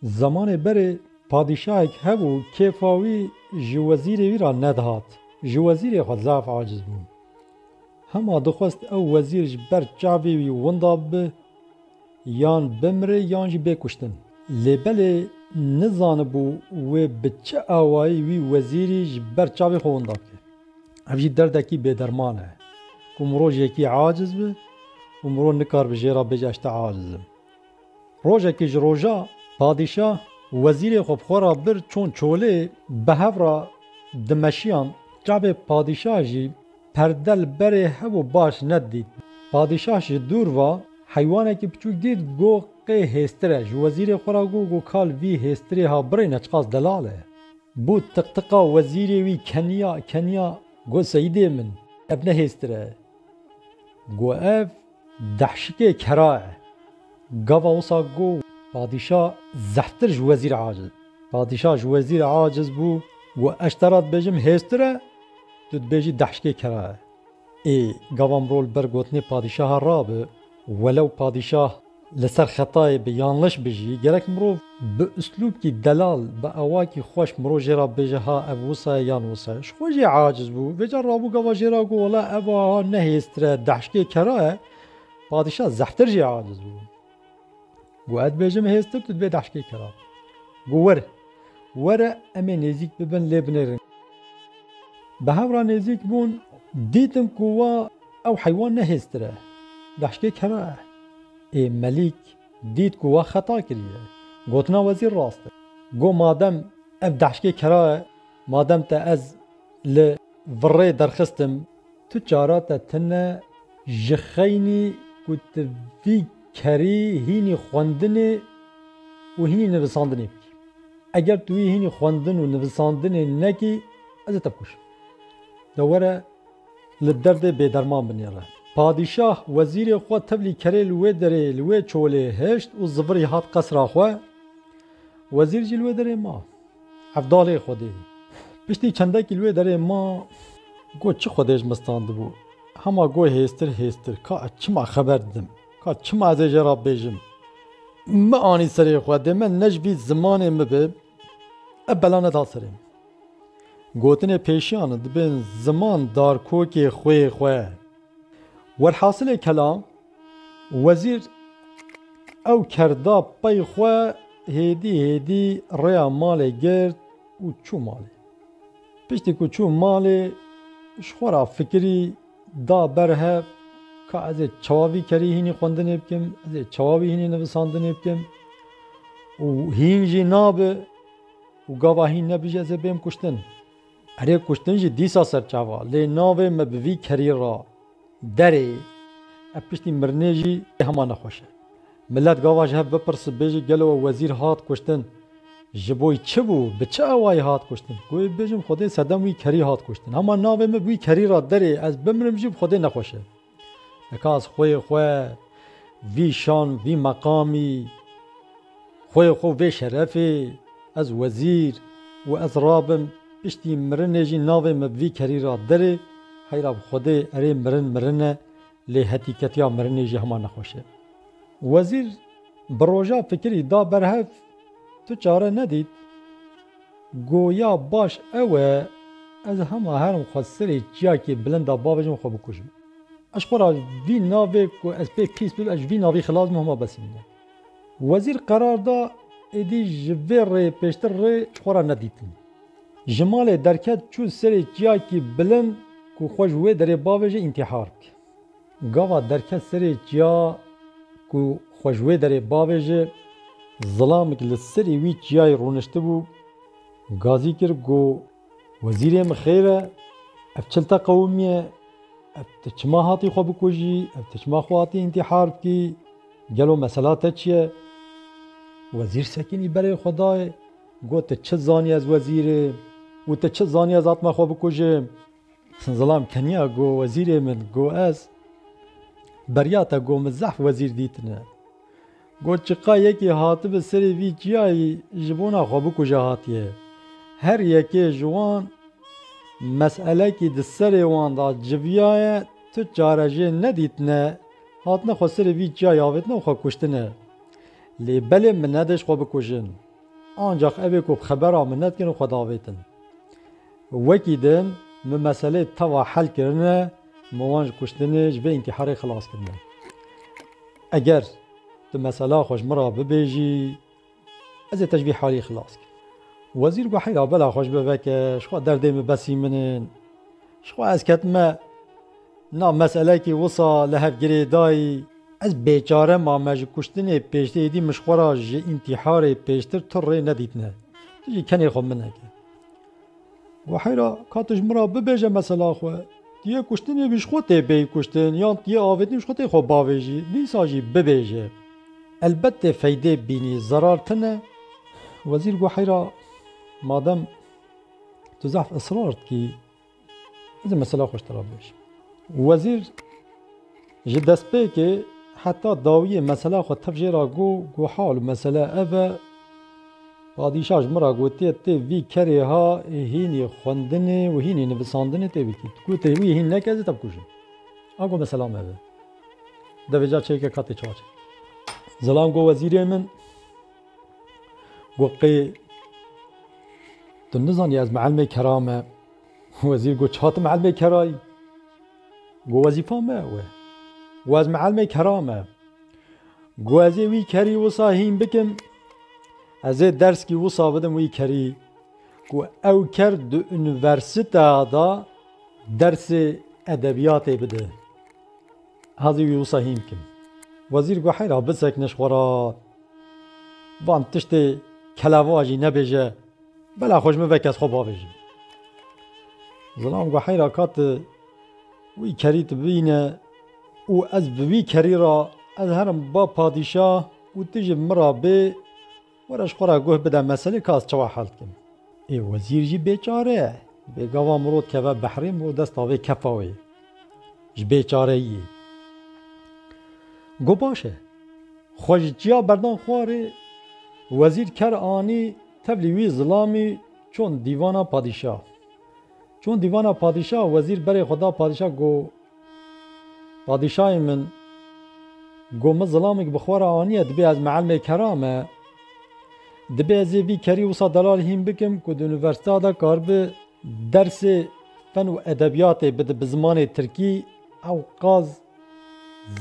Zemanê berê padîşahek hebû kêfa wî ji wezîrê wî re nedihat. Ji wezîrê xwe zaf aciz bû. Hema dixwest ew wezîr ji ber çavê wî winda bibe, yan bimire yan jî bê kuştin. Lê belê nizanibû wê bi çi awayî wî wezîrî ji ber çavê xwe winda bike. Ev jî derdekî bêderman e ku mirov ji yekî aciz be û mirov nikaribe jê re bêje ez tê aciz im. Rojekê ji roja, padîşah wezîrê xwe bi xwe ra bir çûn çolê, bi hev ra dimeşiyan. Çavê padîşah jî perde li berê hev û baş nedît. Padîşah ji dûr va, heywanekî piçûk dît, go qê hêstir e. Ji wezîrê xwe ra go, go kal vî hêstirê ha birêne, çiqas delal e. Bû tiqtiqa wezîrê wî keniya, keniya, go seyîdê min, ev ne hêstir e. Go ev Dehşikê kera e. Gava wisa go padîşa zehftir ji wezîr aciz. Padîşa ji wezîr aciz bû go ez ji te ra dibêjim hêztir e, tu dibêjî dehşikê kera e. Ê gava mirov li ber gotinê padîşaha rabi, welew padîşah li ser xetayê bi yan leş bi jî, gerek mirov. Bi uslûbkî delal, bi awakî xweş mirov jê re bêje ha ev wisa ye yan wisa ye. Ji xwe jê aciz bû. Vê car rabû gava jê re got wela ev aha ne hêztir e, dehşkê kera ye. Padîşah zehftir jê aciz bû. Got ez dibêjim hêztir tu dibê dehşkê kera. Got were. Were em ê nêzîk bibin lê binêrin. Bi hev re nêzîk bûn dîtin ku wa ew heywan ne hêztir e. Dehşkê kera ye. Ê Melîk. Dît ku we xeta kiriye. Gotina wezîr rast e. Got madem ev dehşkê kera e, madem te ez li virê derxistim, tu çara te tine ji xeynî ku tu vî kerî hînî xwendinê û hînî nivisandinê bikî. Eger tu wî hînî xwendin û nivisandinê nekî, ez ê te bikuşim. De were. Li derdê bêderman binêre. Padîşah wezîrê xwe tevlî kerê li wê derê li wê çolê hişt û zivirî hat qesra xwe. Wezîr jî li wê derê ma. Evdalê Xwedê. Piştî çendekî li wê derê ma. Got çi Xwedê ji min standibû. Hema got hêztir hêztir. Ka ez çima xeber didim? Ka çima ez ê jê re bêjim? Min anî serê xwe. Dê me ne ji vî zimanê min be. Ev bela neda serê min. Gotinê pêşiyan di bin ziman darkokê xwê xwe. Werhasilê kelam, wezîr ew ker da pey xwe hêdî hêdî rêya malê girt û çû malê. Piştî ku çû malê ji xwe ra fikirî da ber hev ka ez ê çawa vî kerî hînî xwendinê bikim, ez ê çawa wî hînî nivisandinê bikim û hîn jî nabe. Û gava hîn ne bije zê bêm kuştin. Erê kuştin jî dîsa serçava lê navê me bi vî kerî ra derê. Ev piştî mirinê jî hema nexweş e. Milet gava ji hev bipirse bêje gelo we wezîr hat kuştin ji bo wî çi bû, bi çi awayî hat kuştin. Guhê bêjim xwedê sedem wî kerî hat kuştin. Hema navê me bi wî kerî ra derê ez bimrim jî bi xwedê nexweş e. Nikas xwê xwe vî şan vî meqamî, xwê xwe vê şerefê ez wezîr û ez rabim piştî mirinê jî navê min bi vî kerî ra derê, heyra bi xwedê erê mirin mirin e lê hetîketiya mirinê jî hema nexweş e. Wezîr bi roja fikirî da berhev tu çare nedît. Goya baş ew e ez hema herim xwe serê çiyakê bilinda bavêjim û xwe bikujim. Ez xwe ra vî navê ku ez pê pîs bibim ez ji vî navî xilas bim hema besî min e. Wezîr qerar da êdî ji vê rê pêştir rê ji xwe ra nedîtin. Ji malê derket çûn serê çiyakî bilind ku xwe ji wê derê bavêje întîhar bike. Gava derket serê çiya ku xwe ji wê derê bavê ji zilamik li serê wî çiyayê rûniştibû gazî kir ku Wezîrê min xêr e, ev çilte qewimî ye, ev ti çima hatî xwe bikujî, ev ti çima xwe hatî întîhar bikî, gelo mesela te çi ye? Wezîr sekinî berê xwe dayê got tu çi zanî ez wezîr im û tu çi zanî ez hatime xwe bikujim? Zilam keniya got wezîrê min got ez beriya te got min zehf wezîr dîtine. Got çiqa yekê hatibi serê vî çiyayî ji bona xwe bikuje hatiye. Her yekê ji wan meselekî di serê wan de civiyaye tu çarejê nedîtine hatine xwe serê vî çiyayî avêtine û xwe kuştine. Lê belê min nedişt xwe bikujin. Ancax evê ku bi xebera min nedikin û xwe davêtin. Wekî din min meselê tava hel kirine, min wan ji kuştinê, ji vê întiharê xilas kirine. Eger tu mesela xwe ji min re bibêjî, ez ê te ji vî halî xilas kim. Wezîr got, Heyra bela xwe ji bo veke, ji xwe derdê min besî min in. Ji xwe ez ketime nav meselekê wisa li hev girê dayî. Ez bêçare ma me ji kuştinê pêştê êdî min ji xwe re ji întiharê pêştir tu rê nedîtine. Tu jî kenê xwe min neke. Wahêra ka tu ji min re bibêje mesela xwe, tu yê kuştinê bi ji xwe tê bêyî kuştin yan tu yê avêtinê bi ji xwe tê xwe bavêjî, dîsa jî bibêje. Elbet tê feydê bînî, zerar tune. Wezîr Wahêra madem tu zehf israr dikî. Ez ê mesela xwe ji te re bibêjim. Wezîr ji destpêkê heta dawiyê mesela xwe tev jê re got, got hal û mesele ev e, padîşa ji min re gotiye tê vî kerê ha hînî xwendinê û hînî nivisandinê tê bikî. Tu gotê wî hîn neke ez ê te bikujim. A got mesela me ev e. Devê ca çêkek hat tê çawa çêkek. Zilam got wezîrê min. Got qê tu nizanî ez mîelmê kera me? Wezîr got çiha tu mîelmê kerayî? Got wezîfa me ew e. Got ez mîelmê kera me. Got ez ê wî kerî wisa hîn bikim. Ez ê derskî wisa bidim wî kerî. Got ew ker di unîversîteya de dersê edebîyatê bide. Hezî wî wisa hîn kim. Wezîr got heyra bisekiniş xwe re. Van tiştê keleva jî nebêje, bela xwe ji min ve kes xwe bavêjin. Zilam got heyra ka tu wî kerî tu bîne û ez bi wî kerî re ez herim ba padîşah û tu ji min re bê, Were ji xwe re guh bide meselê ka ez çawa hel dikim. Ê wezîr jî bêçare ye. Bê gava miro dikeve behrê miro desta vê kefa wê ji bêçareyiyê. Got baş e. Xwe ji çiya berdan xwarê? Wezîr ker anî tevlî wî zilamî çûn dîvana padîşah. Çûn dîvana padîşah wezîr berê xwe da padîşah got. Padîşahê min got min zilamik bi xwe re aniye dibê ez meelmê kera me. Dibê ez ê vî kerî wisa delal hîn bikim ku di unîversîteya de karibi dersê fen û edebîyatê bide bi zimanê tirkî ew qaz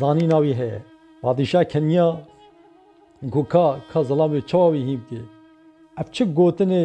zanîna wî heye. Padîşah keniya got ka ka zilamê çawa wî hîn bike. Ev çi gotinê?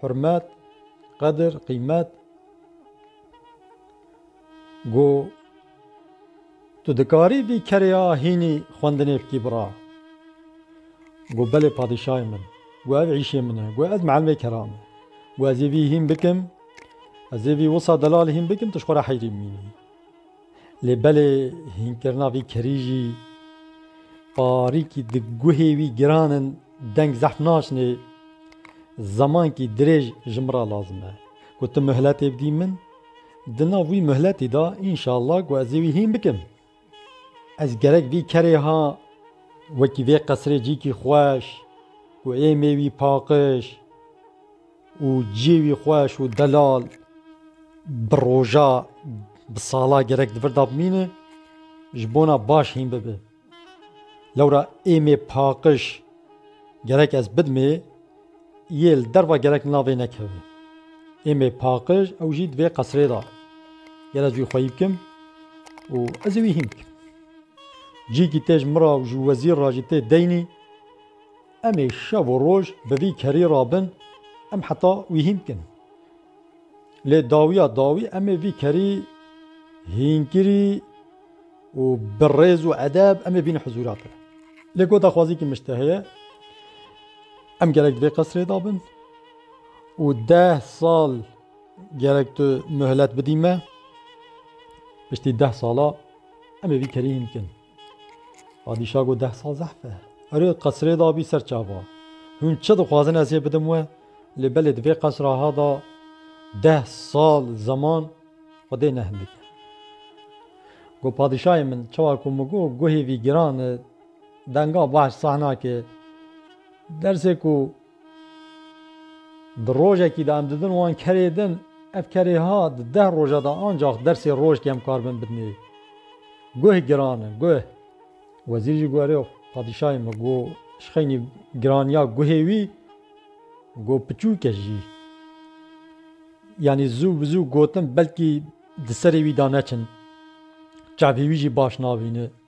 Hurmet, qedir, qîmet Go Tu dikarî vî kerê ya hînî xwendinê bikî bira? Go Belê padîşayê min. Go Ev îşê min e. Go Ez mielimê kera me. Go Ez ê vî hîn bikim. Ez ê vî wisa delal hîn bikim tu ji xwe re heyrî bimînî. Lê belê hînkirina vî kerî jî parîkî di guhê wî giran in deng zehf naşinê. Zemankî dirêj ji min re lazim e ku tu muhletê bidî min. Di nav wî muhletî de înşallah ku ez ê wî hîn bikim. Ez gerek vî kerê ha wekî vê qesirê cîkî xweş ku ê mêwî paqij. Û ciyê wî xweş û delal bi roja, bi sala gerek di vir de bimîne, ji bona baş hîn bibe. Lewra êmê paqiş gerek ez bidimê, yê li derva gerek li navê nekeve. Êmê paqiş ew jî di vê qesrê de. Ger ez wî xweyî bikim û ez ê wî hîn bikim. Cîkî tê ji min re û ji wezîr re jî tê deynî. Em ê şev û roj bi vî kerî re bin, em heta wî hîn dikin. Lê dawiya dawî em ê vî kerî hînkirî û bi rêz û edeb em ê bînin huzûra te. Lê ku daxwaziyekî min ji te heye, em gerek di vê qesrê de bin û deh sal gerek tu muhlet bidî me. Piştî deh sala em ê vî kerî hîn bikin. Padîşah got, Deh sal zehf e. Erê, qesrê dabî ser çava. Hûn çi dixwazin ez yê bidim we? Lê belê di vê qesra ha da deh sal zeman xwedê ne hindik e. Got, Padîşahê min, çawa ku min got guhê vî giran e, denga baş sah nake. Dersê ku. Di rojekî de em didin wan kerê din, ev kerê ha di deh roja de ancax dersê roj kêm kar bin bidinê. Guh giran in, guh. Wezîr jî got erê padîşahê min, got ji xeynî giraniya guhê wî, got piçûk e jî. Yanî zû bi zû gotin belkî di serê wî de neçin. Çavê wî jî baş nabîne.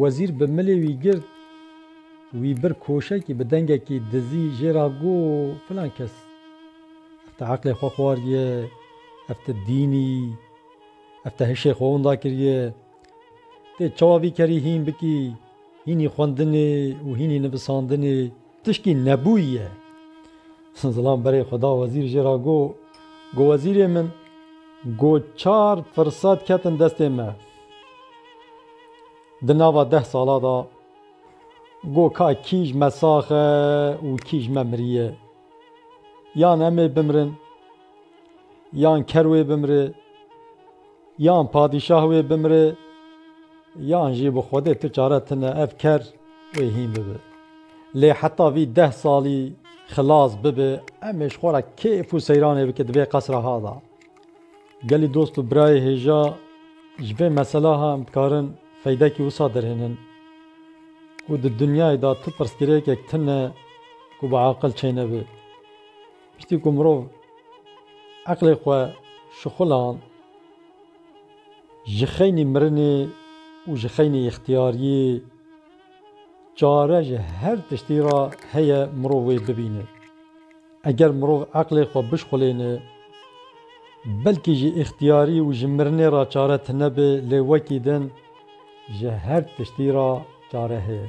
Wezîr bi milê wî girt, wî bir koşekî bi dengekî dizî jê ra got, Filan kes, ev te eqlê xwe xwariye, ev te dînî, ev te hişê xwe winda kiriye. Tê çawa vî kerî hîn bikî, hînî xwendinê û hînî nivisandinê. Tişkî nebûye. Zilam berê xwe da wezîr jê re got, Got wezîrê min, got çar firsat ketin destê me di nava deh sala da, got ka kî ji me sax e û kî ji me miriye. Yan em ê bimirin, yan ker wê bimire. Yan padîşah wê bimire yan jî bi Xwedê tu çare tune ev ker wê hîn bibe. Lê heta vî deh salî xilas bibe em ê ji xwe re kêf û seyranê bike di vê qesra ha de. Gelî dost û birayê hêja ji vê mesela ha em dikarin feydekî wisa derhênin ku di dinyayê de tu pirsgirêkek tune ku bi aqil çênebe. Piştî ku mirov eqlê xwe şixuland, ji xeynî mirinê û ji xeynî îxtiyariyê çare ji her tiştî re heye mirov wê bibîne. Eger mirov eqlê xwe bişxulêne, belkî ji îxtiyarî û ji mirinê re çare tunebe lê wekî din ji her tiştî re çare heye.